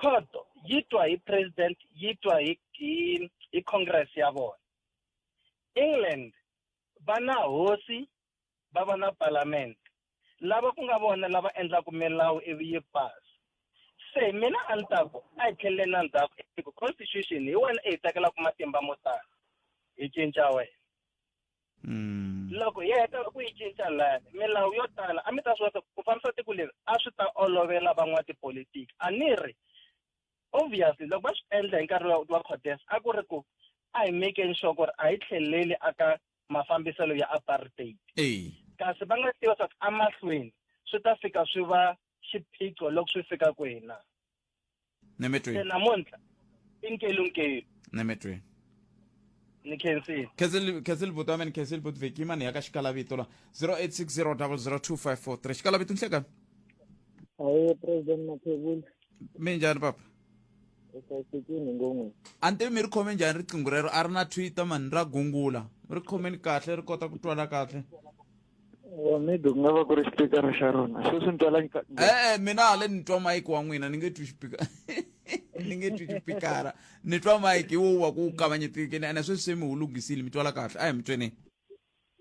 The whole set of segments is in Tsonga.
khoto yi twa hi president yi twa hi hi, hi congress ya vona england va na hosi va va na parliament lava ku nga vona lava endlaka milawu ivi yi pasi se mina a ni ta ku a hi tlheleleni na ndzhaku hi ku constitution hi wena i hi tekelaka matimba mo tala hi cinca wena Mm. loko hi heta ku yi cinca la milawu yo tala a mi ta swi vona ku fambisa tiko leri a swi ta olovela van'watipolitiki a ni ri obviously loko va swi endla hi nkarhi wa codes a ku ri ku a hi mekeni sure ku ri a hi tlheleli aka mafambiselo ya apartheid kasi va nga tiva swa ku emahlweni swi ta fika swi va xiphiqo loko swi fika kwina nemetweni namuntlha i nkelunkeyi nemetweni ni khensile khensile buti wa mina khensile buti vheki yimani ya ka xikalavito la 0860002543 xikalavito nhlekani aye president mathebula mi njhani papa usayisekini ngongweni a ni tivi mi ri khome njhani riqingho rero a ri na twitter mani ra gungula ri khomeni kahle ri kota ku twala kahle wa mi ku nga va ku ri xipikara xa rona sweswi ni twala e-e mina hale ni twa mayiki wa n'wina ni nge twi xipikara ni nge twi xipikara ni twa mayiki wo wa ku kavanyetikini ene sweswi se mi wu lunghisile mi twala kahle a hi mi tweneni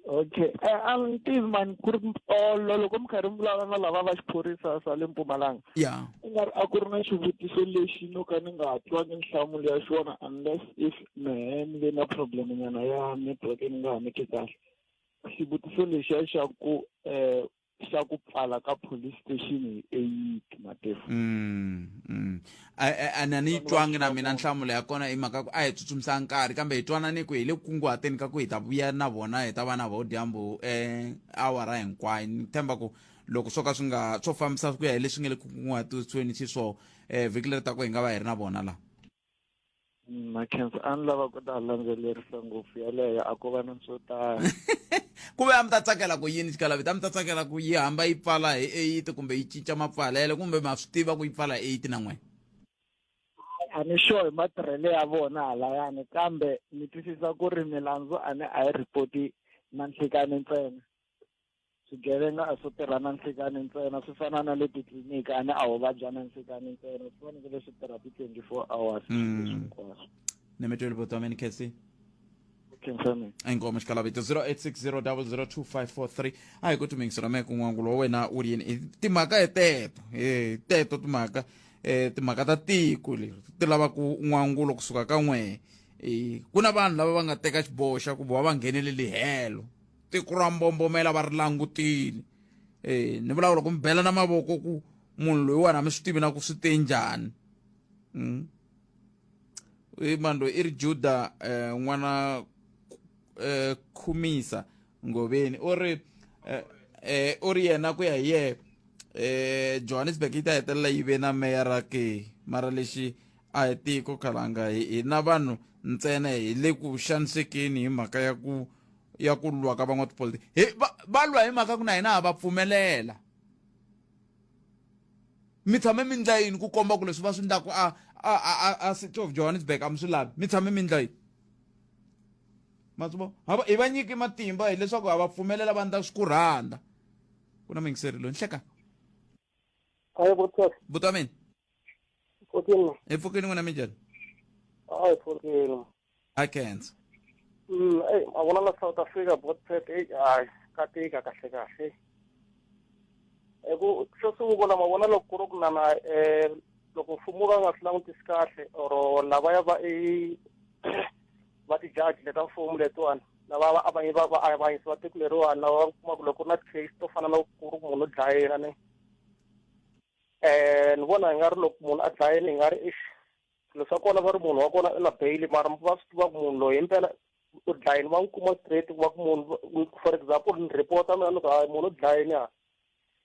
okay e, a ni tivi mani ku ri olo loko mi karhi mi vulavula na lava va xiphorisa swa le mpumalanga ya ku nga ri a ku ri na xivutiso lexi no ka ni nga twangi nhlamulo ya xona unless if mehe ni ve na problem nyana ya network ni nga ha mi ki kahle xivutiso lexiya xa ku um xa ku pfala ka police station hi eight matefu mm, mm. a ni a ni yi twangi na mina nhlamulo ya kona i mhaka ku a hi tsutsumisa nkarhi kambe hi twanane ku hi le kunguhateni ka ku hi ta vuya na vona hi ta va na vodyambu um eh, awara hinkwayo ni tshemba ku loko swo ka swi nga swo fambisa ku ya hi leswi nga le kunguhatiweni xiswona um eh, vhiki leri ta ku hi nga va hi ri na vona laha Makhensa a ni lava ku ta landzelerisa ngopfu yaleyo a ko va na swo tala ku ve a mi ta tsakela ku yini xikalavita a mi ta tsakela ku yi hamba yi pfala hi eight kumbe yi cinca mapfalelo kumbe ma swi tiva ku yi pfala hi eight na n'wina a ni sure hi matirhelo ya vona halayani kambe ni twisisa ku ri milandzu a ni a yi report-i na nhlikani ntsena swigevenga a swo tirha na nhlikani ntsena swi fana na le titliliniki a ni a ho vabya na nhlikani ntsena swi fanekele swi tirha ti-twenty four hours mm. hinkwaswo ni mi tweli vutomi ni khesi khensani inkomo xikalavito 0860002543 a hi ku tumingisela meke n'wangu lowa wena u ri yini i timhaka hi teto hi teto timhaka um timhaka ta tiko leri ti lavaka n'wangulo kusuka ka n'wehe ku na vanhu lava va nga teka xiboho xa ku va va ngheneleli helo tiko ra mbombomela va ri langutile e ni vulavula ku mi bela na mavoko ku munhu loyi wena mi swi tivi na ku swi te njhani mm. i mani loyi i ri juda eh, n'wana eh, khumisa ngoveni u ri eh, eh, u ri yena ku ya hi yehe eh, johannesburg yi ta hetelela yi ve na meya ra ke mara lexi a hi tiko khalanga hina vanhu ntsena hi le ku xanisekeni hi mhaka ya ku ya ku lwa ka van'watipolitiki hi va, va lwa hi mhaka ku na hina ha va pfumelela mi tshame mi ndla yini ku komba ku leswi va swi ndlaku a a a city of johannesburg a mi swi lavi mi tshame mi ndla yini matsubo hava hi va nyiki matimba hileswaku ha va pfumelela va ndla swi ku rhandza ku na mingiseri loyi ni hleka buta mina hi pfukini n'wina mi njhani hi kenzo mm eyi a vona la south africa botpet eyi hayi ka tika kahle kahle hi ku xo sungula ma vona loko ku ri ku na na um loko mfumo va nga swi langutisi kahle or lavaya va i va ti-judge le ta mfumo letiwani lava va avanye va va avanyisi va tiko leriwani lava va kuma ku loko ku ri na ti-case to fana na ku ri munhu u dlayela ni um ni vona hi nga ri loko munhu a dlayeni hi nga ri ix swilo swa kona va ri munhu wa kona i na bail mara va swi tiva ku munhu loyi himpela u dlayini va n'wi kuma straight ku va ku munhu for example ni report-a mina ni ku hayi munhu u dlayini a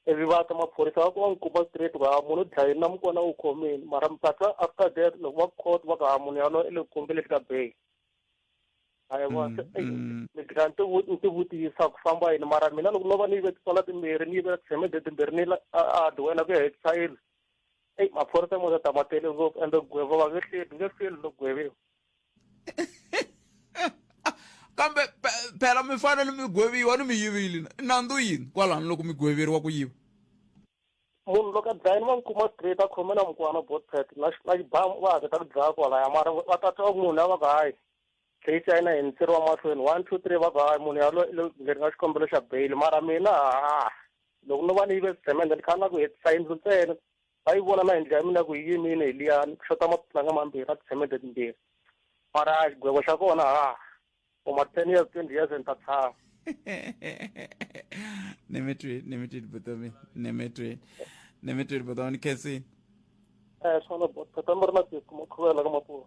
ivi va ta maphorisa va ku va n'wi kuma straight ku ha munhu u dlayini na mukona u khomini mara mpatsa after that loko va court va ku ha munhu yaloye i le ku kombeleni ka bail hayi va mm, mm. ni gina ni tivutisa ku famba yini mara mina loko no va ni yive titswala timbirhi ni yivela ti-semede timbirhi ni a adhi wena ku ya hi child eyi maphorisa mo ta ma tele ngopfu ende gwevo va nge hleli nge feli no gweviwa kambe phela mi fanele mi gweviwa ni mi yivile nandzu yini kwalano loko mi gweveriwa ku yiva munhu loko a dlayini va n'wi kuma straight a khome na mukwana botpet na xibamu va haketa ku dlaya kwalaya mara va tata va munhu lava va ku hayi Hi China hi ntsiri wa mahlweni one two three va ku hayi munhu yaloye lo ngeni ka xikombelo xa bail mara mina ha loko no va ni yive swigemende ni khala na ku hetisa yindlu ntsena va yi vona na yindlu ya mina ku yi yimile hi liyani ku xota maputlanga mambirhi na tigemende timbirhi mara xigwego xa kona ha for ma ten years twenty years ni ta tshama nemetweni nemetweni botomi nemetweni nemetweni botomi ni khensini um swona botata mi ri na siku makhuvela ka mapuwa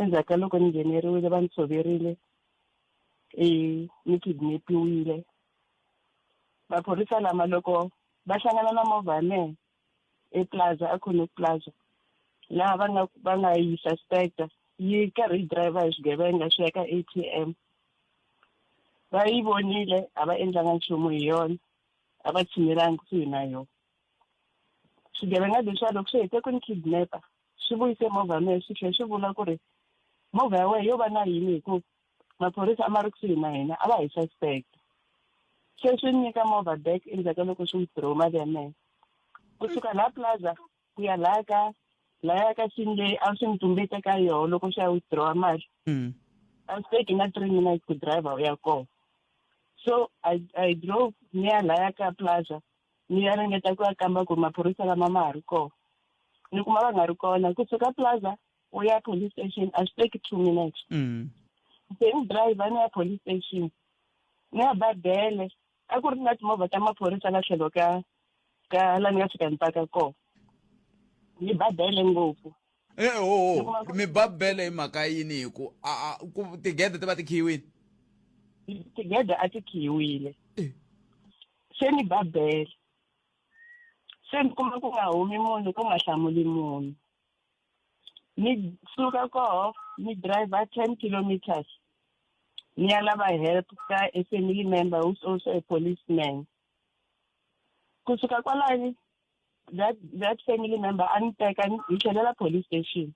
endzhaku ka loko ni ngheneriwile va ni tshoverile i ni kidnapiwile maphorisa lama loko va hlangana na movha ya mehe eplaza a connect plaza laha va nga va nga yi suspecta yi karhi yi driver hi swigevenga swi ya ka a t m va yi vonile a va endlanga nchumu hi yona a va tshinelanga kusuhi na yona Swigevenga leswiya loko swi hete ku ni kidnap-a swi vuyise movha ya mehe swi tlhela swi vula ku ri movha ya wena yo va na yini hi ku maphorisa a ma ri kusuhi na hina a va hi suspect se swi nyika movha back endzhaku ka loko swi withdraw mali ya mehe kusuka laha plaza ku ya laha ka laya ka sini leyi a swi ni tumbete ka yoho loko swi ya withdraw mali mm. a swi teki na three minutes ku driver u ya kona so i i drove ni ya laya ka plaza ni ya ringeta ku ya kamba ku ri maphorisa lama ma ha ri kona ni kuma va nga ri kona kusuka plaza u ya police station a swi teki two minutes mm. se ni driver ni ya police station ni ya ba bele a ku ri na timovha ta maphorisa la tlhelo ka ka la ni nga fika ni paka kona ni ba bele ngopfu e eh, ho oh, oh. mi ba bele hi mhaka yini hi ku tigede ti va ti khiyiwile tigede a ti khiyiwile eh. Se ni ba bele. Se ni kuma ku nga humi munhu ku nga hlamuli munhu. Ni suka koho ni driver 10 kilometers ni ya lava help ka a family member who's also a policeman. Ku suka kwalani that that family member a ni teka ni hi tlhelela police station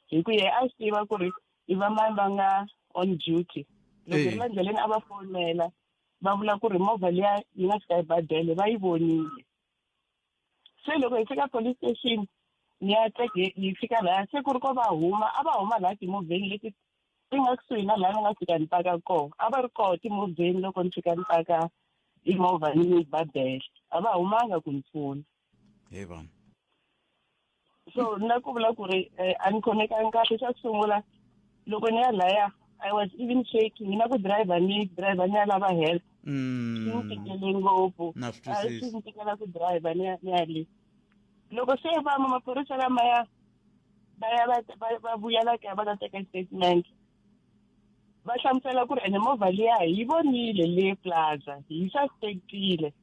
hi ku yehe a swi tiva ku ri i va mani va nga on duty. Loko hi ri la ndleleni a va fonela. va vula ku ri movha liya yi nga fika ebadele va yi vonile se loko hi fika police station ni ya teke yi fika laya se ku ri ko va huma a va huma laha timovheni leti ti nga kusuhi na laha ni nga fika ni paka kona a va ri koho timovheni loko ni fika ni paka imovha ni ni badele a va humanga ku ni pfuna hey vana so na ku vula ku ri eh, a ni khomekanga kahle xa ku sungula loko ni ya laya i was even shaking na ku driver ni driver ni ya lava help mm. swi ni tikele ngopfu swi ni tikela ku driver ni ya le loko se vama maphorisa lamaya va ya va vuyela kaya va ta teka statement va hlamusela ku ri ene movha liya hi vonile le plaza hi suspectile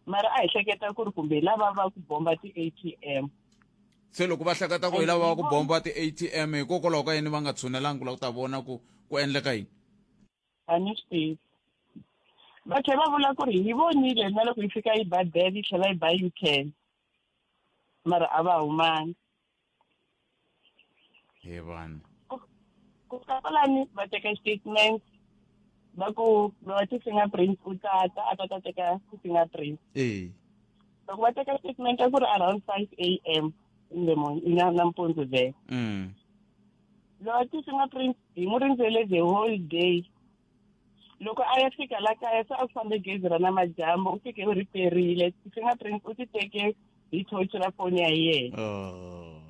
mara a hi hleketa ku ri kumbe hi lava va ku bomba ti-a t m se loko va hleketa ku hi lava va ku bomba ti-a t m hikokwalaho ka yini va nga tshunelangi ku lava ku ta vona ku ku endleka yini a ni swi tivi va tlhe va vula ku ri hi vonile na loko yi fika yi ba bel yi tlhela yi ba u ten mara a va humanga hi vanhu ku kapalani va teka statement va ku lowa ti-fingerprint u tata a ta ta teka ti-fingerprint ee loko va teka statement a ku ri around five a m nampundzu there mm. lowa ti-fingerprint hi mu rindzele the whole day loko a ya fika la kaya se a ku fambe gezi ra namadyambu u fike u ri perile ti-fingerprint u ti teke hi thochi ra foni ya yena oh.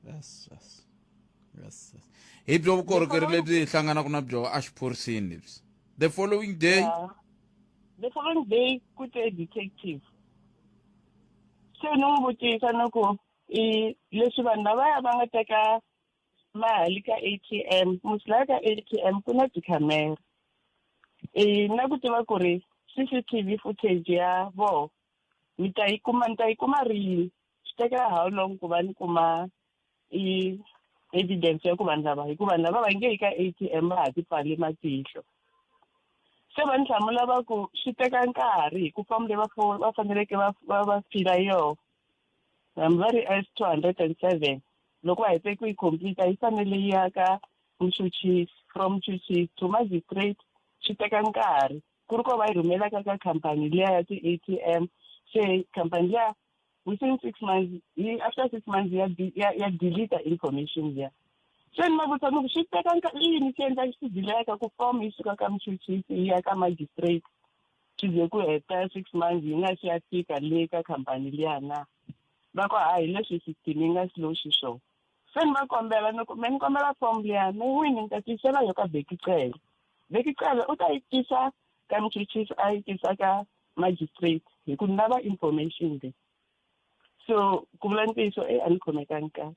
yes, yes. Yes, yes. hi byo vukorhokeri lebyi hi hlanganaka na byo exiphoriseni lebyi the following day yeah. the following day ku te detective se ni n'wi vutisa ni ku i leswi vanhu lavaya va nga teka mali ka atm musilaya ka atm ku na tikhamera e na ku tiva ku ri cctv footage ya vona mi ta yi kuma ni ta yi kuma rini swi tekela how long ku va ni kuma i evidence ya ku vanhu lava hikuva vanhu lava va nge yi ka atm va ha ti pfale matihlo se va ni hlamula va ku swi teka nkarhi hi ku fambile va va faneleke va va va fila yona hambi va ri s two hundred and seven loko va hete ku yi completa yi fanele yi ya ka muchuchisi from muchuchisi to magistrate swi teka nkarhi ku ri ko va yi rhumelaka ka khampani liya ya ti-a t m se khampani liya within six months yi after six months ya ya ya deleta information liya se ni va vutisa ni ku swi teka yini swi endla swi dileka ku form yi suka ka muchuchisi yi ya ka magistrate swi ze ku heta six months yi nga si ya fika le ka khampani liya na va ku a hi leswi system yi nga slow xiswona se ni va kombela ni ku me ni kombela form liya me n'wini ni ta tisela yo ka bekicele bekicele u ta yi tisa ka muchuchisi a yi tisa ka magistrate hi ku ni lava information leyi so ku vula ntiyiso e a ni khomekangi kahle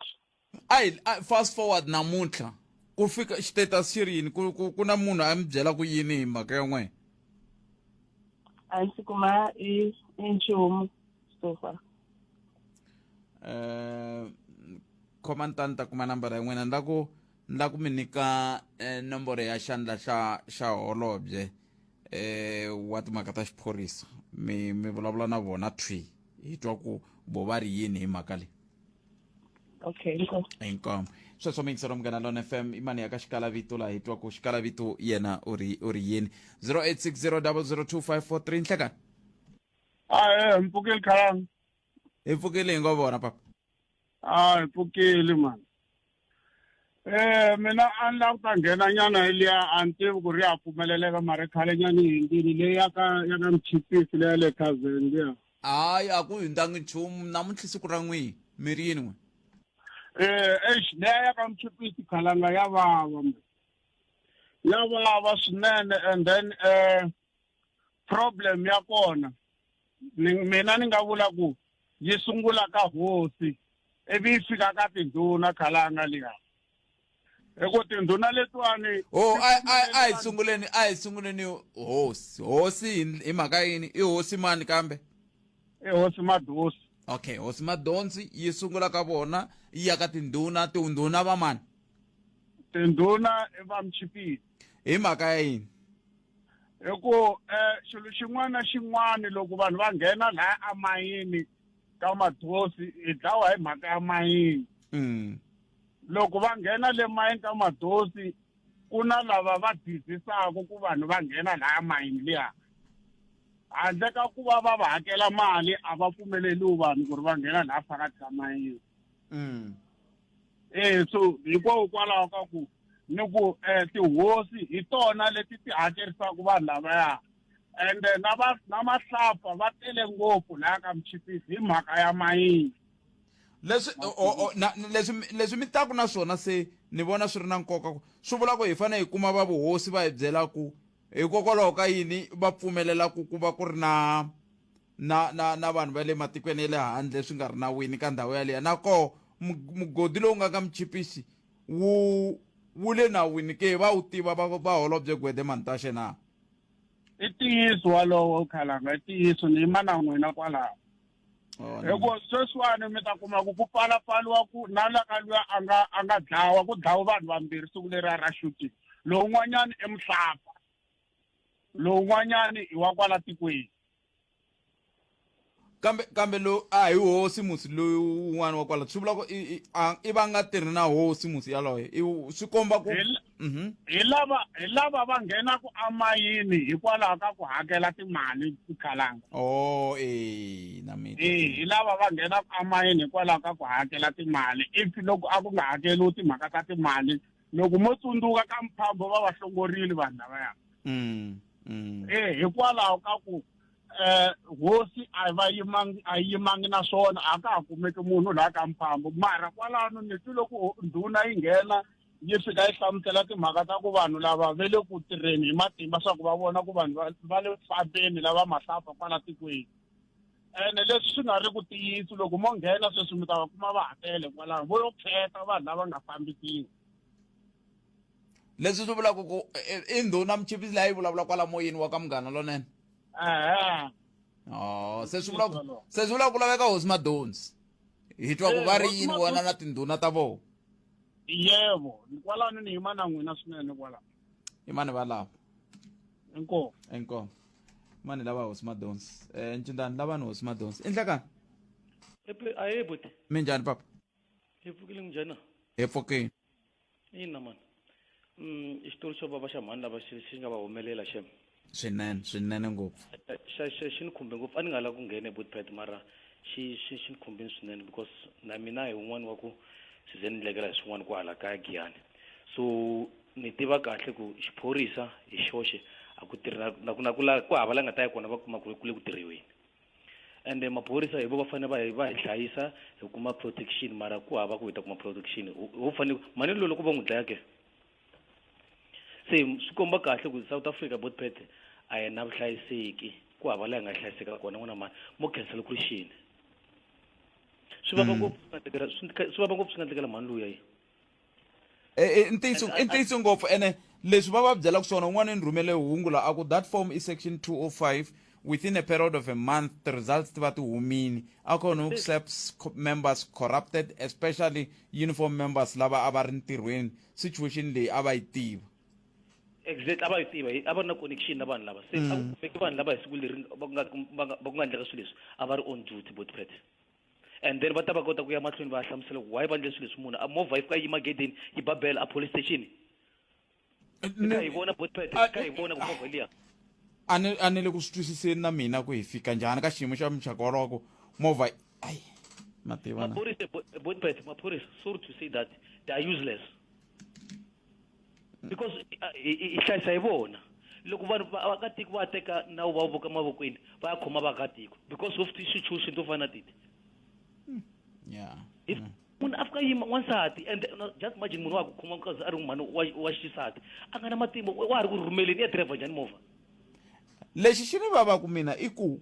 A hi fast forward namuntlha ku fika status xi ri yini ku ku ku na munhu a mi byela ku yini hi mhaka ya n'wina a ndzi kuma i i nchumu so far eh khoma ni ta ni ta kuma nambara ya n'wina ni la ku ni la ku mi nyika eh, nomboro ya xandla xa xa holobye eh wa timhaka ta xiphorisa mi mi vulavula na vona thwi hi twa ku bo va ri yini hi mhaka leyi okay inkomu inkomu sweswo mixero munghana lona fm imani ya ka xikalavito laha hi twa ku xikalavito yena u ri u ri yini 0860002543 nhlekani ae mpfukeli khalanga hi pfukile hi ngo vona papa a hi pfukeli mani um mina a ni la ku ta nghena nyana liya a ni tivi ku ri ya pfumeleleka mara khale nyana hi yindini leyi yaka yaka mchipisi leya le kazeni liya Hayi a ku hindanga nchumu namuntlha siku ra n'wini mi ri yin'we. Eh eish leya ya ka Mchipisi khalanga ya vava. Ya vava swinene and then eh problem ya kona ni mina ni nga vula ku yi sungula ka hosi ivi yi fika ka tindhuna khalanga liya. hi ku tindhuna letiwani oh a a a hi sunguleni a hi sunguleni hosi hosi hi- hi mhaka yini i hosi mani kambe i hosi madosi okay hosi madonsi yi sungula ka vona yi ya ka tindhuna tindhuna va mani tindhuna i va mchipiti hi mhaka ya yini hi ku um xilo xin'wana na xin'wana loko vanhu va nghena laya amayini ka madosi hi dlawa hi mhaka ya mayini mm. loko va nghena le mayini ka madosi ku na lava va dizisaka ku vanhu va nghena laya mayini liya handle ka ku va va va hakela mali a va pfumeleliwi vanhu ku ri va nghena laya phakathi ka mayini mm. e so hikokwalaho ka ku ni ku um tihosi hi tona leti ti hakerisaka vanhu lavaya ende na va na mahlapfa va tele ngopfu laya ka muchipisi hi mhaka ya mayini leswi leswi leswi mi taku na swona se ni vona swi ri na nkoka ku swi vula ku hi fanele hi kuma va vuhosi va hi byela ku hikokwalaho ka yini va pfumelela ku ku va ku ri na na na na vanhu va le matikweni ya le handle swi nga ri na wini ka ndhawu yaleyo nakoho mugodi lowu nga ka muchipisi wu wu le nawini ke va wu tiva va va holobye gwede mantashe na i ntiyiso walowo khalanga i ntiyiso ni yima na n'wina kwalaho hikuva sweswiwani mi ta kuma ku ku pfalapfaliwa ku na la ka luya a nga a nga dlawa ku dlawa vanhu vambirhi siku leri a ra shooting lowun'wanyani i muhlapa lowun'wanyani i wa kwala tikweni kambe kambe lo a hi hosi musi loyi un'wana wa kwala swi vula ku i i a i va nga tirhi na hosi musi yaloye i swi komba ku Mhm. hi lava hi lava va nghenaka amayini hikwalaho ka ku hakela timali tikhalanga oh eh na mina eh hi lava va nghenaka amayini hikwalaho ka ku hakela timali if loko a ku nga hakeriwi timhaka ta timali loko mo tsundzuka ka mphambo va va hlongorile vanhu lavaya mm, mm. eh hikwalaho ka ku eh hosi a va yimangi a yimangi na swona a ka ha kumeki munhu la ka mphambo mara kwalano ni twi loko ndhuna yi nghena yi fika yi hlamusela timhaka ta ku vanhu lava ve le ku tirheni hi matimba swa ku va vona ku vanhu va le fambeni lava mahlapha kwala tikweni ene leswi swi nga ri ku tiyisi loko mo nghena sweswi mi ta va kuma va hakele kwalaho vo yo khetha vanhu lava nga fambisiwa leswi swi vulaka ku e, i ndhuna muchipisi leyi yi vulavula kwala moyeni wa ka munghana lonene ehe oh, se swi vulaka se swi vulaka ku laveka hosi madonsi hi twa ku eh, va ri yini vona na tindhuna ta vona yebo ni kwalano ni yima na n'wina swinene kwalano i mani va lava inkomu inkomu mani lava hosi madonsi um eh, ncindani lavani hosi madonsi endlekani aye buti mi njhani papa hi pfukile njhani hi pfukile ina mani um mm, xitori xo vava xa mhani lava xi nga va humelela xem swinene swinene ngopfu xa xa xi ni khumbe ngopfu a ni nga lava ku nghena ebotpet mara xi xi xi ni khumbini swinene because na mina hi un'wana wa ku swi ze ni ndlekela hi swin'wana kwahala kaya giyani so ni tiva kahle ku xiphorisa hi xoxe a ku tirhi na ku na ku la ku hava la nga ta ya kona va kuma ku ri ku le ku tirhiweni ende maphorisa hi vo va fanele va hi va hi hlayisa hi kuma protection mara ku hava ku hi ta kuma protection ho fanele mani lolo ku va n'wi dlaya ke se swi komba kahle ku south africa botpet a hi na vuhlayiseki ku hava laha nga hlayiseka kona n'wana mani mo khensa loko ri xini swi vava hmm. ngopfu swi vava ngopfu swi nga ndlekela mhani luya yi e, e, i ntiyiso i ntiyiso ngopfu ene leswi va va byelaka swona un'wana ni rhumele hungu la a ku that form i section 205 within a period of a month the results ti va ti humile akhona uclaps members corrupted especially uniform members lava a va ri ntirhweni situation leyi a va yi tiva exactly a va yi tiva a va ri na connection na vanhu lava se a mm. kumeki vanhu lava hi siku leri va ku nga va ku nga endleka swilo leswi a va ri on duty bot pet and then va ta va kota ku ya mahlweni va hlamusela ku why va endle swilo leswi munhu a movha yi fika yi magedeni yi ba bela a police station eh, ka hi vona bot pet ka hi vona ku movha liya a ni le ku swi twisiseni na mina ku hi fika njhani ka xiyimo xa muxaka wolowo ku movha Ay, Mateo. Mapurisa, wait, wait, Mapurisa, sorry to say that they are useless. Because uh, i hlayisa hi vona. Loko vanhu vaakatiko va teka nawu va vuka mavokweni va ya khoma vaakatiko because of ti-situation to fana titi. Hmm. Yeah. If, yeah. munhu a fika yima wansati and uh, just imagine munhu wa ku khoma because a ri mhani wa xisati a nga na matimba wa ha ri ku rhumeleni ya driver njhani movha lexi xi ni vava ku mina i ku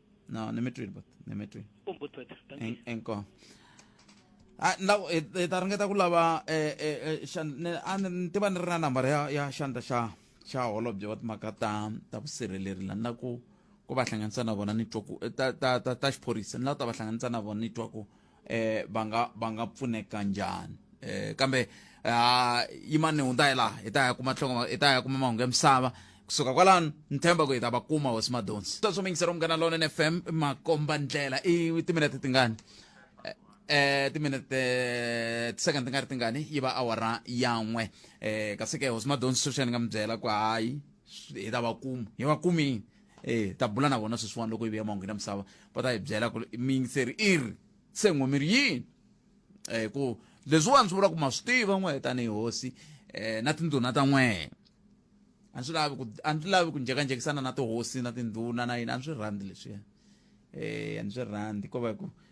No, ne me treat but ne me treat. Um but but. En en ko. Ah, na e eh, ta ringeta ku lava eh eh, eh shan ne an ah, tiva ni ri na number ya ya xandla xa xa holobye wa timhaka ta ta vusirheleri la na ku ku va hlanganisa na vona ni twa ku eh, ta ta ta ta xiphorisa ni la ta va hlanganisa na vona ni twa ku eh va nga va nga pfuneka njhani eh kambe ah yimani hunta hi laha hi ta ya kuma tlhonga hi ta ya kuma mahungu ya misava kusuka kwalano ni tshemba ku hi ta va kuma hosi madonsi ta swo mingisela munghana lonene fm makomba ndlela i timinete tingani eh timinete tisecond ti nga ri tingani yi va awara yan'we eh kasi ke hosi madonsi sweswi ni nga mi byela ku hayi hi ta va kuma hi va kumini e ta bula na vona sweswiwani loko yi vuya mahungwini ya misava va ta hi byela ku mi yingiseri i ri se n'wi mi ri yini um ku leswiwani swi vula ku ma swi tiva n'wehe tanihi hosi um na tindhuna ta n'wehe a swi lavi ku a ndzi lavi ku njhekanjhekisana na tihosi na tindhuna na yini a ni swi rhandzi leswiya um a ni swi rhandzi ko va ku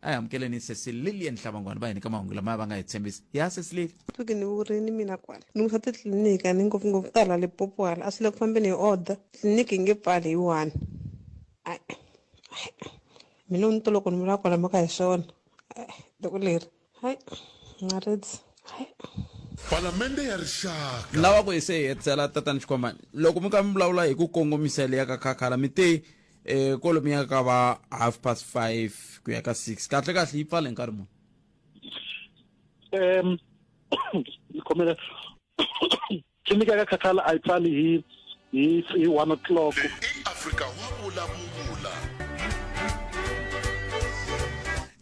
a hi amukeleni sesi lilian hlavangwana va hi nyika mahungu lamaya va nga hi tshembisa ya sesi lili Tuki ni vuri ni mina kwala ni musa titliliniki a ni ngopfungopfu ta hala Limpopo hala a swi le ku fambeni hi order tliliniki yi nge pfali hi one Ai, ai, mina ni to loko ni vula kwala mhaka hi swona Ai, tiko leri hayi ngaritsi hayi palamende ya rixaka lawa ku hi se hi hetisela tatani xikhomani loko mi ka mi vulavula hi ku kongomisa leya ka khakhala mi te eh kolomi ya ka va half past five ku ya ka six kahle kahle yi pfale nkarhi muni um ni khomela tliliniki ya ka khathala a yi pfali hi hi hi one o'clock eafrika wa vulavula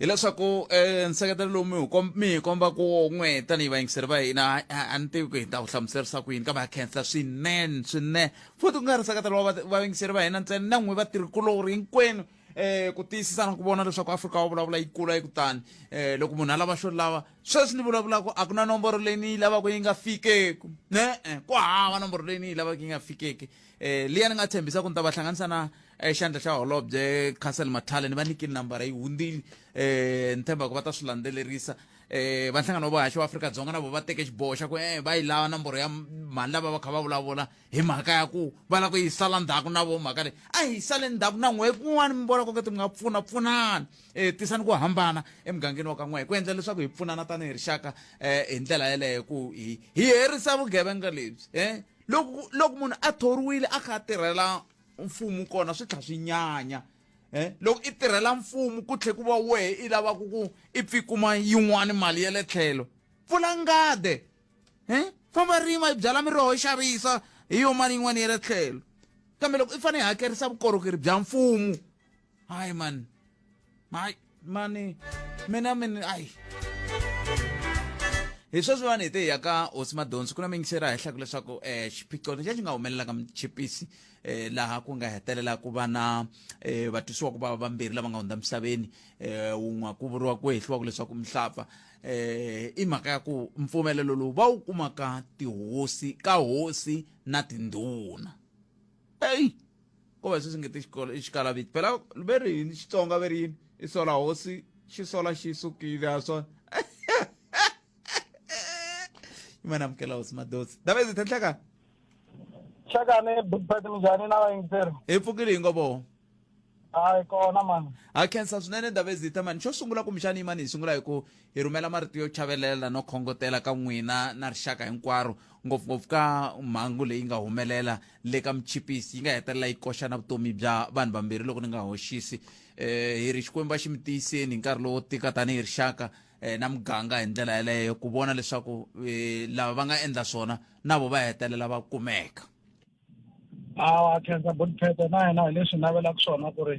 hileswaku um eh, nseketelo lowu mi wu mi hi komba ku n'we tanihi vayingiseri va hina a ni tivi ku hi ta wu hlamuserisa ku yini kambe ha khensa swinene swinene futhi ku nga ri seketelo wa vavingiseri va hina ntsena na n'wi vatirhikulori hinkwenu eh ku tiyisisa na ku vona leswaku afrika wa vulavula yi kula yi kutani eh loko munhu a lava xo lava sweswi ni vulavulaka a ku na nomboro leyi ni yi lavaka yi nga fikeku ne-e ku hava nomboro leyi ni yi lavaka yi nga fikeki eh liya ni nga tshembisa ku ni ta va hlanganisa na eh, xandla xa holobye council mathale ni va nikini nambara yi hundzile eh ni tshemba ku va ta swi landzelerisa eh vanhlangano wa vuhaxi wa afrika dzonga na vo va teke xiboho xa ku eh va yi lava nomboro ya mhani lava va kha va vulavula hi mhaka ya ku va lava ku yi sala ndzhaku na vo mhaka leyi a hi sale ndzhaku na n'we kun'wana mi vona koketi mi nga pfuna pfunana um tisani ku hambana emugangeni wa ka n'we hi ku endla leswaku hi pfunana tanihi rixaka um hi ndlela yeleyo ku hi hi herisa vugevenga lebyi um loko loko munhu a thoriwile a kha a tirhela mfumo kona swi tlha swi nyanya um loko i tirhela mfumo ku tlhe ku va wehe i lavaka ku i pfikuma yin'wani mali ya le tlhelo pfula ngade he famba rima yi byala miroho yi xavisa hi yo mali yin'wana ya le tlhelo kambe loko i fanele i hakerisa vukorhokeri bya mfumo hayi mani hayi mani mina mina ayi hi sweswi vanhu hi te hi ya ka hosi madonsi ku na mingisera henhlaku leswaku um xiphiqo lexi a xi nga humelelaka muchipisi um laha ku nga hetelela ku va na um eh, vatwisiwa ku va vambirhi lava nga hundza misaveni um eh, wun'we ku vuriwa ku hehliwaku leswaku mihlapfa eh i mhaka ya ku mpfumelelo lowu va wu kumaka tihosi ka hosi na tindhuna eyi ko va sweswi nge ti xikolo i xikalaviti phela ve ri yini xitsonga ve ri yini i sola hosi xi sola xi sukile a swa imana amukela hosi madosi davezi thenhleka xakane big bat minjhani na vayingiseri hi pfukile hi ngovo hayi kona mani ha khensa swinene davezita mani xo sungula kumbexani yimani hi sungula hi ku hi rhumela marito yo chavelela no khongotela ka n'wina na rixaka hinkwaro ngopfungopfu ka mhangu leyi nga humelela le ka muchipisi yi nga hetelela yi koxa na vutomi bya vanhu vambirhi loko ni nga hoxisi eh hi ri xikwembu a xi mi tiyiseni hi nkarhi lowo tika tanihi rixaka eh, na muganga hi ndlela yeleyo ku vona leswaku eh, lava va nga endla swona na vo va hetelela va kumeka a wa khensa body pete na yena hi leswi navelaka swona ku ri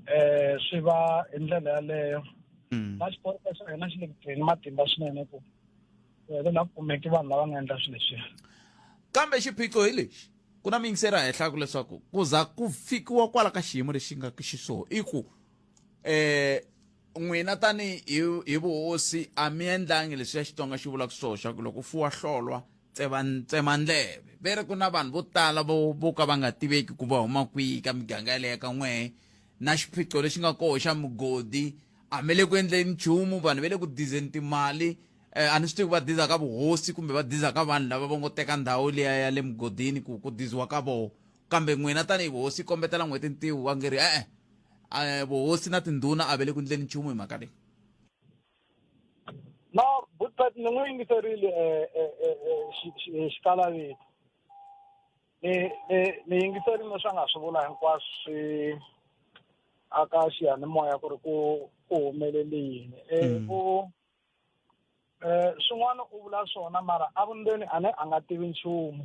um swi va hi ndlela yaleyo hmm. na xiporofo xa hina xi le ku tirheni matimba swinene ku helela ku kumeki vanhu lava nga endla swilo leswiya kambe xiphiqo hi lexi ku na miyingiseri a henhlaku leswaku ku za ku fikiwa kwala ka xiyimo lexi nga xiswona i ku um n'wina tanihi hi vuhosi a mi endlangi leswi ya xitsonga xi vulaka swona xa ku loko u fuwa hlolwa tsevandleve ve ri ku na vanhu vo tala vo vo ka va nga tiveki ku va huma kwihi ka miganga yaleya ka n'wehe na xiphiqo lexi nga koho xa mugodi a mi le ku endleni nchumu vanhu va le ku dizeni timali um a ni swi tivi va diza ka vuhosi kumbe va diza ka vanhu lava va ngo teka ndhawu liya ya le mugodini ku ku diziwa ka voho kambe n'wina tanihi vuhosi kombetela n'hweti ntiwu va nge ri e-e vuhosi na tindhuna a va le ku endleni nchumu hi mhaka leyi no butpet ni n'wi yingiserile eh, eh, eh, xikalavito ni ni yingiserile swa nga swi vula hinkwaswo swi aka xiyanimoya ku ri ku ku humelele yini mm. ku um swin'wana u vula swona mara a vundzeni a ne a nga tivi nchumu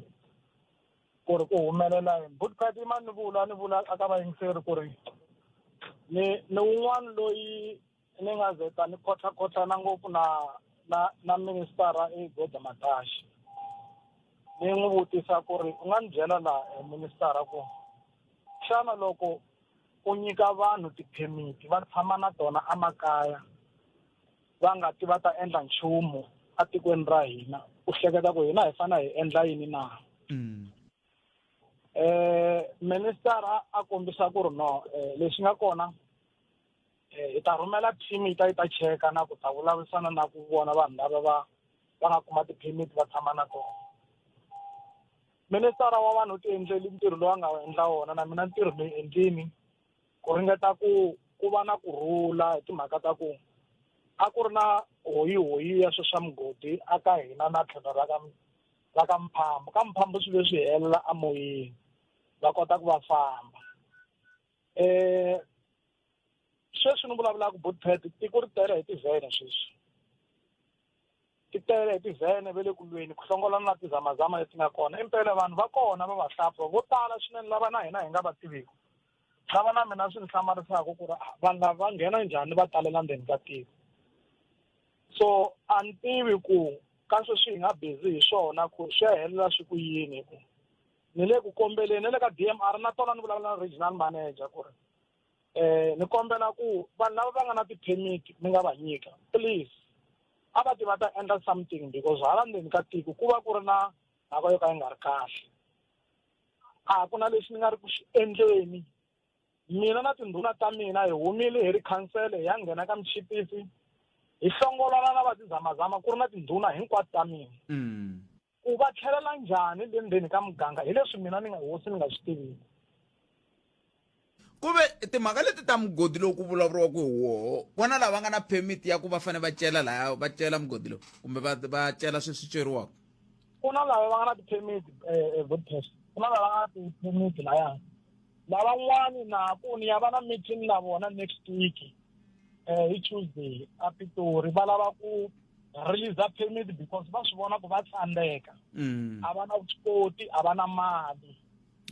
ku ri ku humelela yini butpet ima ni vula ni vula aka vayingiseri ku ri ni ni wun'wana loyi ni nga ze ta ni khotlhakhotlhana ngopfu na na na ministara i goda mataxi ni n'wi vutisa ku ri u nga ni byela laha eh, ministara ku xana loko u nyika vanhu tiphemiti va tshama na tona emakaya va nga ti va ta endla nchumu etikweni ra hina u hleketa ku hina hi fanele hi endla yini na mm. eh minister a kombisa ku ri no eh, lexi nga kona eh, hi ta rhumela team yi ta yi ta cheka na ku ta vulavurisana na ku vona vanhu lava va va nga kuma ti-permit va tshama na tona ministara wa vanhu u tiendleli ntirho lowu a nga endla wona na mina ntirho ni endlini ku ringeta ku ku va na ku rhula hi timhaka ta ku a ku ri na hoyihoyi ya swe swa mugodi a ka hina na tlhelo ra ka ra ka mphambo ka mphambo swi leswi helela emoyeni va kota ku va famba um sweswi ni vulavulaka bootpad i ku ri tele hi tivhene sweswi ti tele hi tivhene ve le ku lweni ku hlongolana na tizamazama leti nga kona impela vanhu va kona va vahlampfa vo tala swinene lava na hina hi nga va tiviki lava na mina swi ni hlamarisaka ku ri ah, vanhu lava va nghena njhani va talela ndzeni ka tiko so a ni tivi ku ka sweswi hi nga busy hi swona ku swi ya helela swi ku yini hi ku ni le ku kombeleni na le ka DMR na tona ni vulavula na regional manager ku ri eh ni kombela ku vanhu lava va nga na ti-permit mi nga va nyika please a va ti va ta endla something because hala ndzeni ka tiko ku va ku ri na mhaka yo ka yi nga ri kahle a ku na lexi ni nga ri ku xi endleni mina na tindhuna ta mina hi humile hi ri khansele hi ya nghena ka muchipisi hi hlongolana na vatizamazama ku ri na tindhuna hinkwato ta mina mm. ku va tlhelela njhani le ndzeni ka muganga hi leswi mina ni nga hosi ni nga swi tiviki ku ve timhaka leti ta mugodi lowu ku vulavuriwaka hi woho vona lava nga na permit ya ku va fanele va cela laya va cela mugodi lowu kumbe va va cela swi swi ceriwaka ku na lava va nga na ti-permit um vodcast ku na lava nga na ti-permit laya lavan'wani na ku ni ya va na meeting na vona next week um hi tuesday a pitori va lava ku release permit because va swi vona ku va tsandzeka mm. a va na vuswikoti a va na mali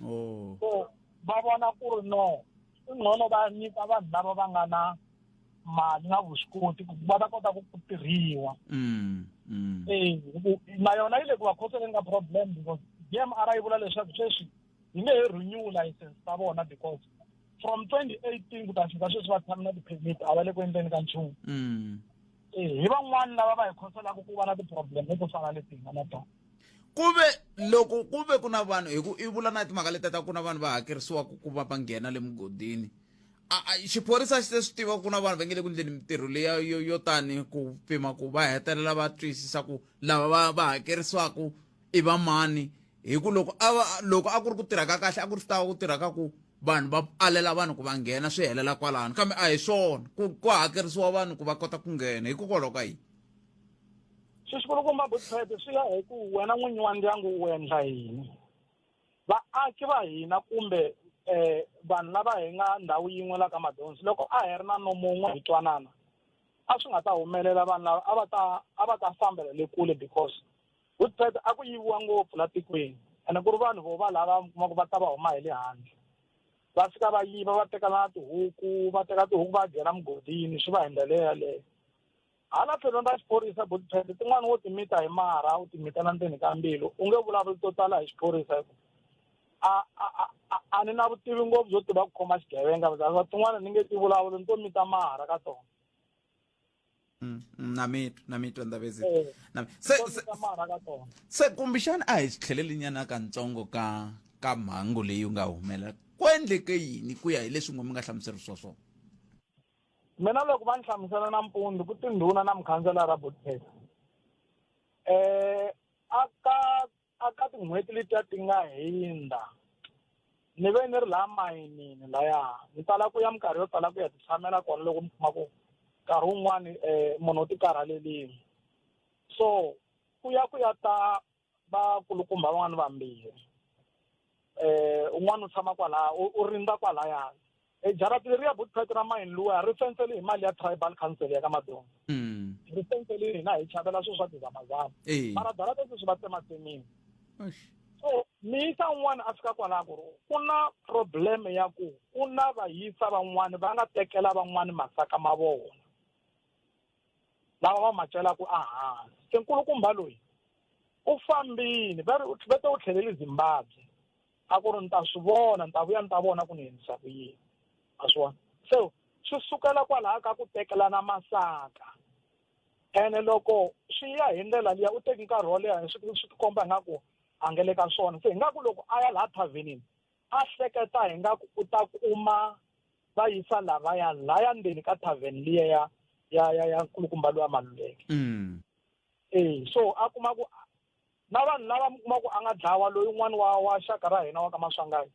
oh. so va vona ku ri no i ngcono va nyika vanhu lava va nga na mali na vuswikoti ku va ta kota ku ku tirhiwa mm, mm. e na yona yi le ku va khoseleni ka problem because dmr yi vula leswaku sweswi yi nge he renew license ta vona because from twenty eighteen ku ta fika sweswi va tshame na ti-permit a va le ku endleni ka nchumu hi van'wana lava va hi khoselaka ku va na ti-problem leto fana leti hi nga na tona ku ve loko ku ve ku na vanhu hi ku i vula na timhaka leti ta ku na vanhu va hakerisiwaka ku va va nghena le mugodini xiphorisa xi se swi tiva ku na vanhu va nge le ku endleni mintirho leya yo yo tani ku pima ku va hetelela va twisisa ku lava va va hakerisiwaka i va mani hi ku loko a va loko a ku ri ku tirha ka kahle a ku ri swi tava ku tirha ka ku vanhu va alela vanhu ku va nghena swi helela kwalano kambe a hi swona ku ku hakerisiwa vanhu ku va kota ku nghena hikokwalaho ka yini swi xikulukumba butsete swi ya hi ku wena n'winyi wa ndyangu u endla yini vaaki va hina kumbe um vanhu lava hi nga ndhawu yin'we la ka madonsi loko a hi ri na nomun'we hi twanana a swi nga ta humelela vanhu lava a va ta a va ta fambela le kule because Vutsweta a ku yiviwa ngopfu la tikweni ene ku ri vanhu vo va lava mi kuma ku va ta va huma hi le handle va fika va yiva va teka na tihuku va teka tihuku va dyela mugodini swi va hi ndlela yeleyo hala tlhelweni ra xiphorisa butswete tin'wana wo timita hi marha u timitela ndzeni ka mbilu u nge vulavuli to tala hi xiphorisa hikuva a a a a ni na vutivi ngopfu byo tiva ku khoma xigevenga tin'wana ni nge ti vulavuli ni to mita mahara ka tona Mm, mm, na mitwa na mitwa ndavezi Eh. Na- se se- Tona marha ka tona se kumbixana a hi tlhelelinyana kantsongo ka ka mhangu leyi u nga humelela ku endleke yini ku ya hi leswi n'we mi nga hlamuserisiwa swona mina loko va ni hlamusela nampundzu ku tindhuna na mukhanselara botesa um a ka a ka tin'hweti letiya ti nga hindza ni ve ni ri laha mayinini laya ni tala ku ya minkarhi yo tala ku ya titshamela kona loko ni kuma ku nkarhi wun'wani um munhu u ti karhalelini so ku ya ku ya ta vakulukumba van'wani vambirhi eh un'wana u tshama kwalaya u rindza kwalaya e jarati leri ya bootpet ra mine luwa ri fensele hi mali ya tribal council ya ka madonga mm. ri fensele hina hi chavela swilo swa tizamazama mara jarati sweswi va tsematsemile so mi yisa un'wana a fika kwalaha ku ri ku na problem ya ku ku na vayisa van'wani va nga tekela van'wani masaka ma vona lava va ma celaka ehansi se nkulukumba loyi u fambini va ri va te u tlhelele zimbabwe a ku ri ni ta swi vona ni ta vuya ni ta vona ku ni endlisa ku yini a swi vona so swi sukela kwalaho ka ku tekelana masaka ene loko swi ya hi ndlela liya u teki nkarhi wo leha swi swi tikomba ingaku a nga le ka swona se ingaku loko a ya laha thavenini a hleketa hi nga ku u ta kuma va yisa lavaya laya ndzeni ka tavern liya ya ya ya ya nkulukumba lowa maluleke mm. e so a kuma ku na vanhu lava mi kuma ku a nga dlawa loyi un'wana wa wa xaka ra hina wa ka maswangayi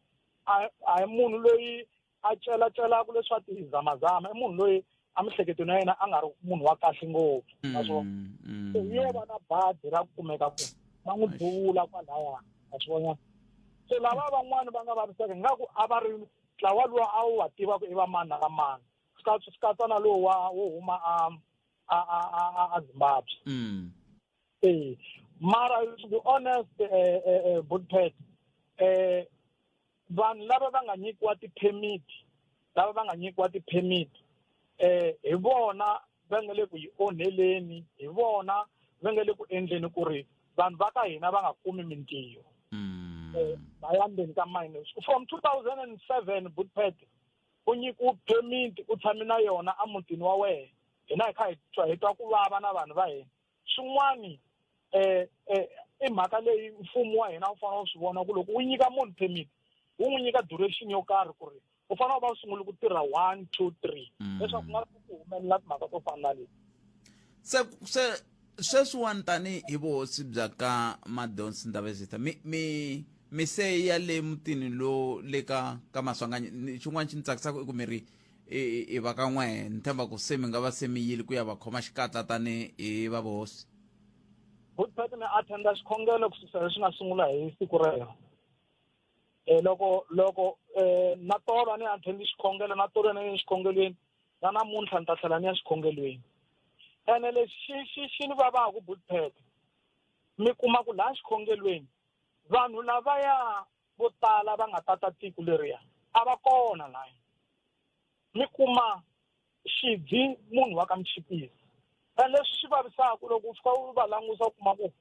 a hi munhu loyi a celacelaku leswa tizamazama i munhu loyi emihleketweni ya yena a nga ri munhu wa kahle ngopfu mm, naswona mm. se yo va na badi ra ku kumeka ku va n'wi duvula kwalaya a swi vona se lava van'wani va nga vaviseka ingaku a va ri ntlawa lowu a wu wa tiva ku i va mani na va mani swi katsa na lowu wa wo huma a a a a a zimbabwe mm. ee mara to be honest eh, eh, eh, budpet eh vanhu lava va nga nyikiwa ti-permit lava va nga nyikiwa ti-permit eh hi vona va nga le ku yi onheleni hi vona va nga le ku endleni ku ri vanhu va ka hina va nga kumi mintiyo mm. eh, va ya ndzeni ka mine from 2007 budpet u nyiki u bye miti u tshame na yona emutini wa wena hina hi kha hi twa hi twa ku vava na vanhu va hina swin'wani um um i mhaka leyi mfumo wa hina wu fanele wu swi vona ku loko wu nyika munhu permit wu n'wi nyika duration yo karhi ku ri u fanele u va u sungule ku tirha one two three mm. leswaku ku nga ku humelela timhaka to fana na leti se se Sweswiwani tanihi hi vuhosi bya ka Madonsi Ndabezitha mi mi mi se ya le mutini lo le ka ka Maswanganyi xin'wana xi ni tsakisaka i ku mi ri i va ka n'we ni tshemba ku se mi nga va se mi yile ku ya va khoma xikatla tanihi hi va vuhosi good part ni attenda xikhongelo ku susa leswi nga sungula hi siku rero um loko loko um na tolo a ni attend xikhongelo na tolo na yini xikhongelweni na namuntlha ni ta tlhela ni ya xikhongelweni ene lexi xi xi xi ni vavaku bulpet mi kuma ku laha xikhongelweni vanhu lavaya vo tala va nga tata tiko leriya a va kona laya mi kuma xidzi munhu wa ka michipisi ene leswi swi vavisaka loko u fika u va langusa u kuma ku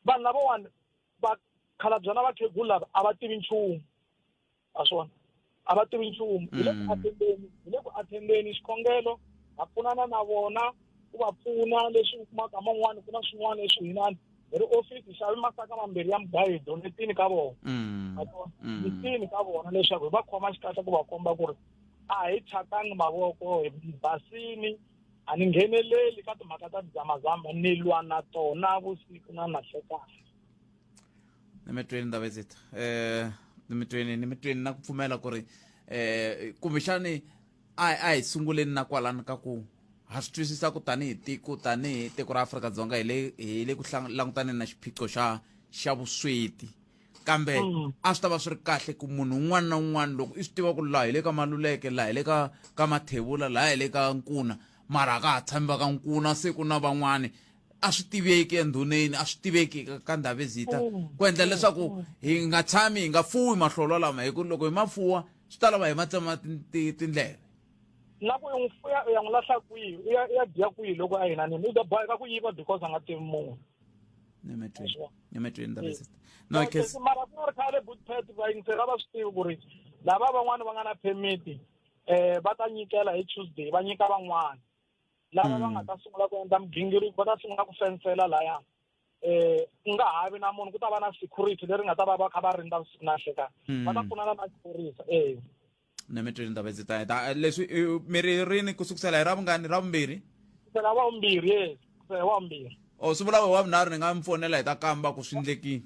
vanhu lavawani va khalabyana vakhegula lava a va tivi nchumu a swona a va tivi nchumu hi le ku athendeni hi le ku athendeni xikongelo ha pfunana na vona ku va pfuna leswi u kumaka man'wani ku na swin'wana leswi hinani hi ri ofisi xavi masaka mambirhi ya mugayo hi donetini ka vona hi tini ka vona leswaku hi va khoma xikahle ku va komba ku ri a hi thyakanga mavoko hi basini a ni ngheneleli ka timhaka ta tidzamazama ni lwa na tona vusiku na nahlekani nimitweni ndava zita eh nimitweni nimitweni na ku pfumela ku ri eh kumbexani a a hi sunguleni na kwalani ka ku ha swi twisisa ku tanihi tiko tanihi tiko ra Afrika-Dzonga hi le hi le ku langutaneni na xiphiqo xa xa vusweti kambe mm. a swi ta va swi ri kahle ku munhu un'wana na un'wana loko i swi tiva ku laha hi le ka maluleke laha hi le ka ka mathevula laha hi le ka nkuna mara a ka ha tshami va ka nkuna siku na van'wani a swi tiveki endhuneni a swi tiveki ka ndhavezita mm. ku endla leswaku mm. hi nga tshami hi nga fuwi mahlolo lama hi ku loko hi ma fuwa swi ta lava hi ma tsema tindleve na ku n'wi fuya u ya n'wi lahla kwihi u ya ya dya kwihi loko a hina nini u ta boheka ku yiva because a nga tivi munhu nimetweni ndhavezita no case mara ku nga ri khale boot pet va yingisela va swi tivi ku ri lava van'wani va nga na permit um eh, va ta nyikela hi tuesday va nyika van'wana lava va nga ta sungula ku endla migingiriko va ta sungula ku fensela laya eh ku nga ha vi na munhu ku ta va na security leri nga ta va va kha va rindza vusiku na nhlekani Hmm. va ta pfuna na maphorisa eh ni mi twile ndaba ndzi ta heta Eh, leswi eh, mi ri rini ku sukusela hi ra vungani ra vumbirhi kusela wa vumbirhi yes kusela wa vumbirhi o swi vula we wa vunharhu ni nga mi fonela hi ta kamba ku swi ndlekini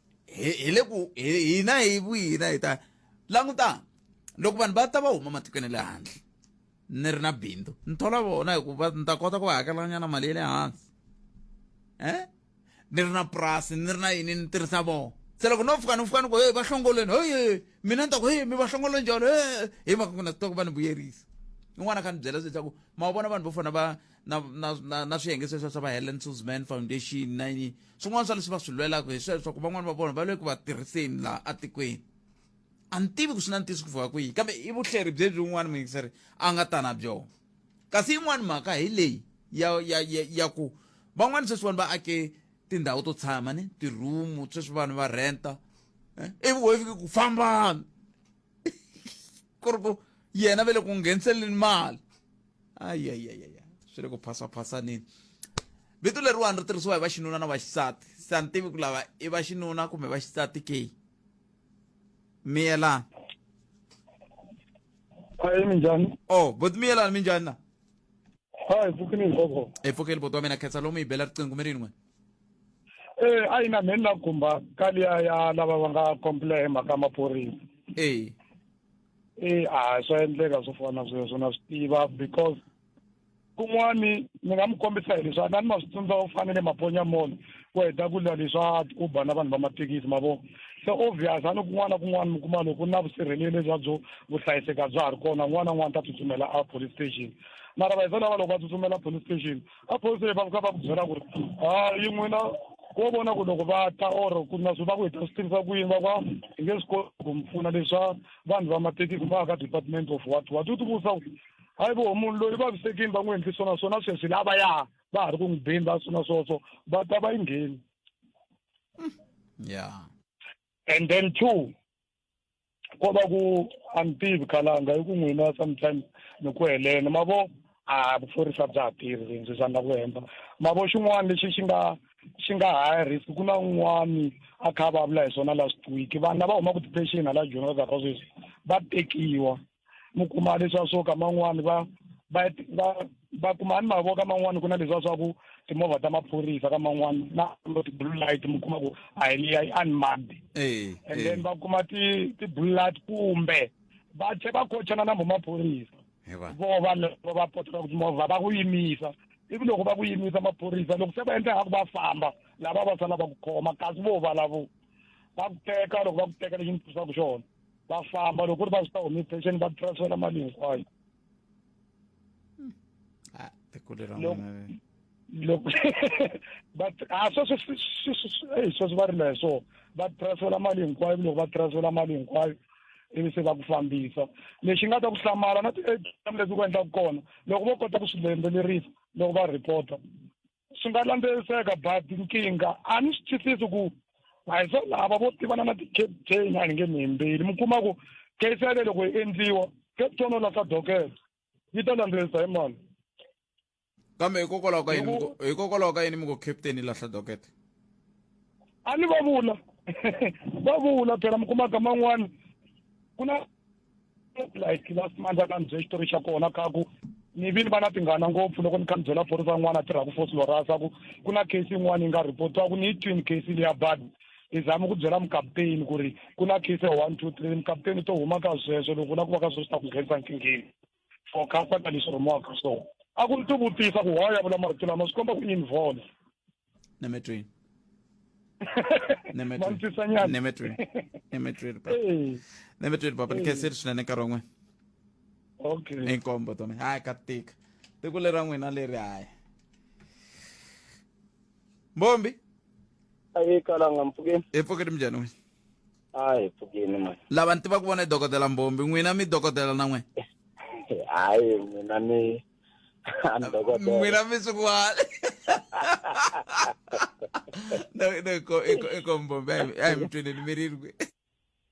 hi hi le ku hi- hina hi vuyina hi ta langutana loko vanhu va ta va huma matikweni ya le handle ni ri na bindzu ni thola vona hikuva ni ta kota ku va hakelanyana mali ya le hansi eh ni ri na purasi ni ri na yini ni tirhisa vona se loko no fika ni fika ni ku hey va hlongolweni hoye mina ni ta ku hey mi va hlongolweni njalo he hi mhaka ku na swi tiva ku va ni vuyerisa un'wana a kha ni byela swi leswaku ma vona vanhu vo fana va na na na, na swiyenge sweswo swa va Helen Suzman Foundation na yini swin'wana swa leswi va swi lwelaka hi sweswo ku van'wana va vona va le ku va tirhiseni laha atikweni a ni tivi ku swi na ntiyiso ku fika kwihi kambe i vuhleri byebyi un'wana muyingiseri a nga ta na byona kasi yin'wana mhaka hi leyi ya ya ya, ya ku van'wana sweswiwani va ake tindhawu to tshama ni tirhumu sweswi vanhu va renta eh, ivi wo fike ku fambani ku ri ku yena ve le ku ngheniseleni mali ayayayaya swi le ku phaswaphasaneni vito leriwani ri tirhisiwa hi vaxinuna na vaxisati se a ni tivi ku lava i vaxinuna kumbe vaxisati ke miyelani hayi minjhani o oh, boti miyelani minjhani na hayi pfukini ngoko e pfukeli boti wa mina khetsa lomu yi bela riqingho mi ri yin'we e eh, a yi na mheni na gumba kaliya ya lava va nga complain mhaka maphorisa e e a swa endleka swo fana sweswo na swi tiva because kun'wani ni nga mi kombisa hi leswi a ni ma swi tsundza u fanele maponya mall ku heta ku lwa leswa uber na vanhu va mathekisi ma vo se obvious a ni kun'wana na kun'wana mi kuma loko na vusirheleli lebya byo vuhlayiseka bya ha ri kona n'wana n'wana ta tsutsumela a police station mara va hi lava loko va tsutsumela police station vaphorisa va fika va ku byela ku ri hayi n'wina ko vona ku loko va ta or ku na swi va ku hi ta swi tirhisa ku yini va va hi nge swi koti ku mi pfuna leswa vanhu va mathekisi va ka department of what what u ti vutisa ku hayi vo munhu loyi vavisekini va n'wi endli swona swona sweswi lava ya va ha ri ku n'wi beni va swona swoswo va ta va yi ngheni ya and then two ko va ku a ni tivi khalanga hi ku n'wina sometimes ni ku helene ma vo a vuphorisa bya ha tirhi rindzi swa nga ku hemba ma vo xin'wana lexi xi nga xi nga high risk ku na un'wani a kha a vulavula hi swona last week vanhu lava humaka detention hala joni va karhi va sweswi va tekiwa mi kuma leswiya swo ka man'wani va va va va kuma ni mavoka man'wani ku na leswiya swa ku timovha ta maphorisa ka man'wani na ti-blue light mi kuma ku a hi liya i unmarked and then va kuma ti ti-blue light kumbe va tlhe va kochana na maphorisa vo vanhu lava va potaka ku timovha va ku yimisa ivi loko va ku yimisa maphorisa loko se va endla ngaku va famba lava va sala va ku khoma kasi vo valavo va ku teka loko va ku teka lexi ni twisaka xona va famba loko ri va swi ta humi pension va transfela mali hinkwayo ah, loko but a ah, sweswi sweswi va rila hi swona va transfela mali hinkwayo loko va transfela mali hinkwayo ivi se va ku fambisa lexi nga ta ku hlamala na ti-atm leti ku endlaka kona loko vo kota ku swi landzelerisa loko va reporta swi nga landzeliseka but nkingha a ni swi twisisi ku a hi swa lava vo tivana na ti-captain a ni nge ni hembeli mi kuma ku case yale loko yi endliwa captain o lahla dokelo yi ta landzelisa hi mani kambe hikokwalaho ka yini hikokwalaho ka yini mi ku captain yi lahla dokete a ni va vula va vula phela mi kumaka man'wani ku na like last month a nga ni bye xitori xa kona kha ku ni vini va na tinghana ngopfu loko ni kha ni byela phorisa yin'wana a tirhaku force lorasa ku ku na case yin'wana yi nga reportiwa ku ni yi twini case leya bad ni zama ku byela mukaputeni ku ri ku na case ya one two three mukaputeni u to huma ka sweswo loko u lava ku va ka sweswo swi ta ku nghenisa nkingheni for comfort and leswi rhumiwaka so a ku ni ti vutisa ku why a vula marito lama swi komba ku yini vona nemetweni nemetweni papa ni khenseli swinene nkarhi wun'we okay inkombo tome hayi ka tika tiko lera n'wina leri hayi mbombi ayi kalanga mpfukeni epfukeni minjhani wena a hi pfukini mani lava ni tivaka vona i dokodela mbombi n'wina mi dokodela na n'wina hayi mina ni I'm dokodela n'wina mi swikwala no no iko iko iko mbombi ayi ayi mi tweleni mi ri kwi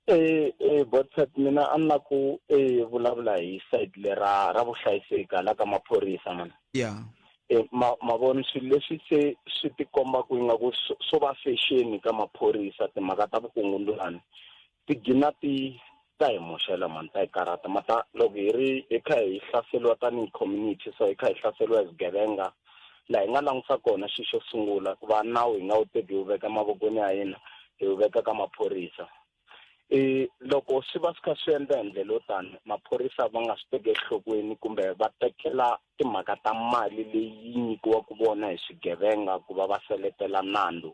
eh eh botsat mina a ni la ku eh vulavula hi side lera ra vuhlayiseki hala ka maphorisa mani yeah E, ma, mavoni swilo leswi se swi tikombaka ingaku swo va fexeni ka maphorisa timhaka ta vukungundwani ti gina ti ta hi moxela mani ta hi karhata ma ta loko hi ri hi kha hi hlaseriwa tanihi community so hi kha hi hlaseriwa hi swigevenga laha hi nga langusa kona xi xo sungula ku va nawu hi nga wu teki hi wu veka emavokweni ya hina hi wu veka ka maphorisa e loko swi va swi kha swi endla hi ndlela yo tani maphorisa va nga swi teki enhlokweni kumbe va tekela timhaka ta mali leyi nyikiwaka vona hi swigevenga ku va va seletela nandzu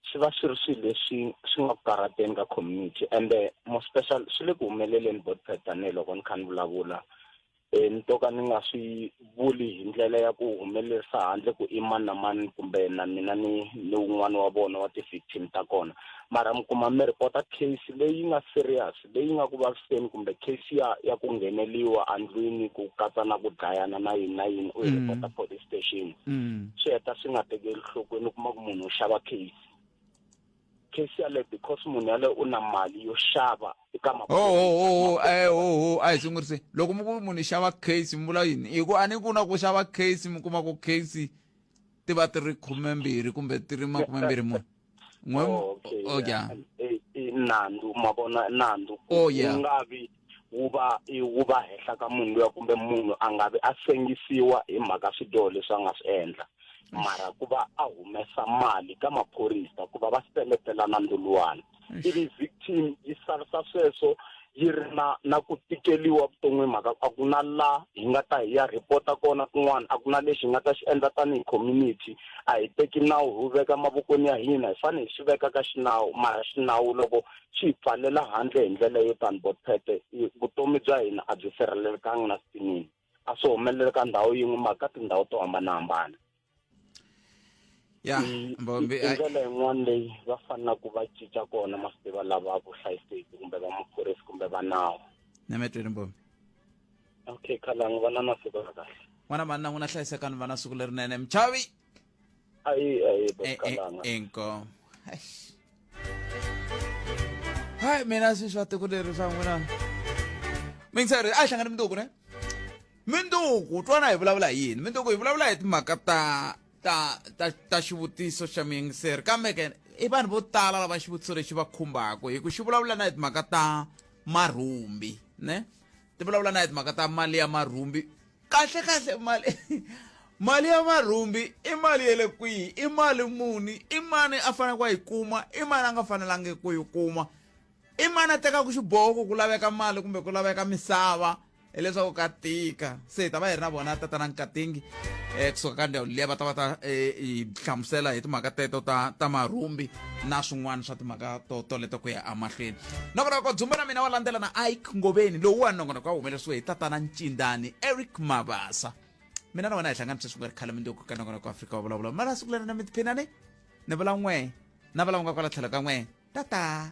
swi va swi ri swilo leswi swi nga ku karhateni ka community ende more special swi le ku humeleleni botpet tanihiloko ni kha ni vulavula e, ni to ka ni nga swi vuli hi ndlela ya ku humelerisa handle ku i mani na mani kumbe na mina ni ni wun'wana wa vona wa ti-victim ta kona mara mi kuma mi report-a case leyi nga serious leyi nga ku vaviseni kumbe case ya ya ku ngheneliwa andlwini ku katsa na ku dlayana na yini na yini u yi mm. report-a police station mm. swi heta swi nga tekeli nhlokweni u kuma ku munhu u xava case case yaleyo because munhu yaleyo u na mali yo xava eka hohohoho e hoho a hi sungurise loko mi ku munhu i xava case mi vula yini hi ku a ni ku na ku xava case mi kuma ku case ti va ti ri khumembirhi kumbe ti ri makumembirhi mune n'we oh, okay, oh, yeah. yeah. nandzu ma vona nandzu oh, yeah. nga vi wu va wu va henhla ka munhu luya kumbe munhu a nga vi a sengisiwa hi mhaka swidyoho leswi a nga swi endla mara ku va a humesa mali ka maphorisa ku va va seletela nanduluwana ivi victim yi salisa sweswo yi ri na na ku tikeliwa vuton'wini mhaka a ku na la hi nga ta hi ya report-a kona kun'wana a ku na lexi hi nga ta xi endla tanihi community a hi teki nawu hi wu veka mavokweni ya hina hi fanele hi swi veka ka xinawu mara xinawu loko xi hi pfalela handle hi ndlela yo tani bothete vutomi bya hina a byi sirhelelekanga na sipinini a swi humelele ka ndhawu yin'we mara ka tindhawu to hambanahambana ya mbombi i ndlela yin'wana leyi va fanelaka ku va cinca kona masiva lava vuhlayiseki kumbe va maphorisa kumbe va nawu na metweni mbombi okay khalangu va na masiku ya kahle n'wana manna n'wina hlayisekani va na siku lerinene mchavi Ayi ayi Eh, eh, bakalanga. inkomo Eish. hayi mina sweswi va tiko leri swa n'wina mingsari a yi hlangani minduku ne minduku twana hi vulavula hi yini minduku hi vulavula hi timhaka ta ta ta ta xivutiso xa miyengiseri kambe ke i vanhu vo tala lava xivutiso lexi va khumbaka hi ku xi vulavula na hi timhaka ta marhumbi ne ti vulavula na hi timhaka ta mali ya marhumbi kahle kahle mali mali ya marhumbi i mali ya le kwihi i mali muni i mani a faneleke a yi kuma i mani a nga fanelangi ku yi kuma i mani a tekaka xiboho ku ku laveka mali kumbe ku laveka misava hileswaku ka tika se hi ta va hi ri na vona tatana nkatingi um kusuka ka ndhawu liya va ta va ta um hi hlamusela hi timhaka teto ta ta marhumbi na swin'wana swa timhaka to toleto ku ya amahlweni nongonoko dzumba na mina wa landzela na ike ngoveni lowu wa nongonoko wa humelerisiwe hi tatana ncindani eric mabasa mina na wena hi hlangana sweswi nga ri khale mindoko ka nongonoko afrika wa vulavula mara siku leri na mi tiphinani ni vula n'we na vula n'we kwala tlhelo ka n'we tata